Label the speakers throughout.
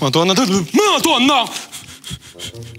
Speaker 1: Madonna, madonna!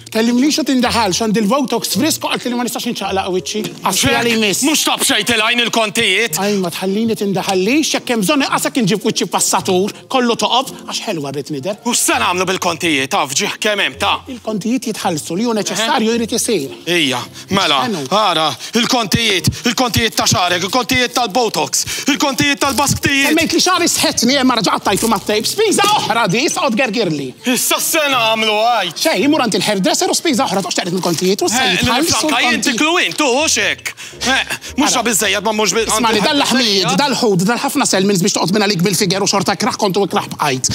Speaker 2: Kellimni xa tindaħal, xand il-Votox frisko għat li ma nistax nċaqlaq wiċċi. Għasfi għalli mis. Mux tab xej tilajn
Speaker 1: il-kontijiet. Għaj, ma tħallini
Speaker 2: tindaħalli, xekkem bżonni għasak nġib wiċċi passatur, kollu toqob, għax ħelwa rrit nider. U s-sen għamlu
Speaker 1: bil-kontijiet, għaf ġiħ kemem ta' il-kontijiet jitħallsu
Speaker 2: li ju neċessarju jrid isir. Ija, Mela,
Speaker 1: ara, il-kontijiet, il-kontijiet ta' xarek, il-kontijiet tal-botox, il-kontijiet tal-basktijiet. Semmejt li xari sħetni
Speaker 2: imma raġa għattajtu ma' tejb, spiża oħra di, issa qod gergirli. Issa s-sena
Speaker 1: għamlu għaj. Xej, imur għand il-hairdresser
Speaker 2: u spiża oħra toqx taqret mill-kontijiet u s-sajjid ħalli. Franka, jien tiklu
Speaker 1: int, tu, u xek. Mux ġa bizzejjed ma mux bizzejjed. Ismani, dal-laħmijiet,
Speaker 2: dal-ħud, dal-ħafna selmins biex toqt minna lik bil-figer u xorta kraħ kontu ikraħ bqajt.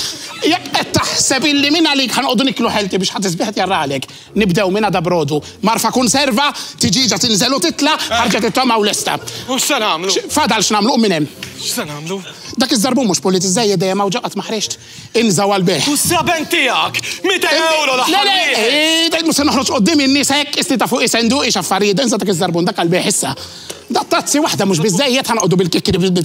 Speaker 2: Jek qed taħseb illi minna lik ħanqodu niklu ħelti biex ħatisbiħet jarralek. Nibdew minn għada b'rodu. Mgħarfa kunserva, tiġieġa tinżel u titla', ħarġet it-tama u lesta. U x'se nagħmlu?
Speaker 1: Fadal x'nagħmlu, qum minn hemm.
Speaker 2: X'se nagħmlu?
Speaker 1: Dak iż-żarbun mhux
Speaker 2: pulit iżżejjed dejjem hawn ġo qatt ma ħriġt. Inżgħu għall-bejgħ. U s-sraben tiegħek?
Speaker 1: Mitejn ewro l-aħħar wieħed! Le, le, eeh, mhux se noħroġ quddiem
Speaker 2: in-nies hekk, qisni ta' fuqi senduqi x'affarijiet, inża' dak iż-żarbun, dak għall-bejgħ issa. Dattazzi waħda mhux biżżejjed, ħa noqogħdu bil-kikri.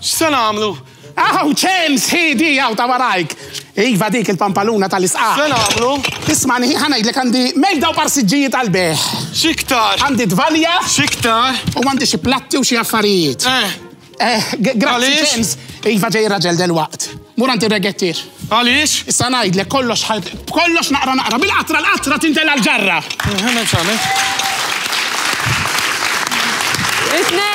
Speaker 2: X'se nagħmlu?
Speaker 1: Hawn ċemx,
Speaker 2: ħiedi, hawn ta' warajk. Iva dik il-pampaluna tal-isqaq. X'se nagħmlu?
Speaker 1: Ismani, ħa ngħidlek
Speaker 2: għandi mejda u parsiġġijiet għall-bejgħ. X'iktar? Għandi
Speaker 1: tvalja.
Speaker 2: X'iktar? U
Speaker 1: għandi xi platti
Speaker 2: u xi affarijiet. Eh. Eh, grazzi ċemx. Iva ġej raġel delwaqt. Mur għandi regettir. Għaliex? Issa
Speaker 1: ngħidlek kollox
Speaker 2: kollox naqra naqra bil-qatra l-qatra tintel għall-ġarra. Eh,
Speaker 1: Isnej!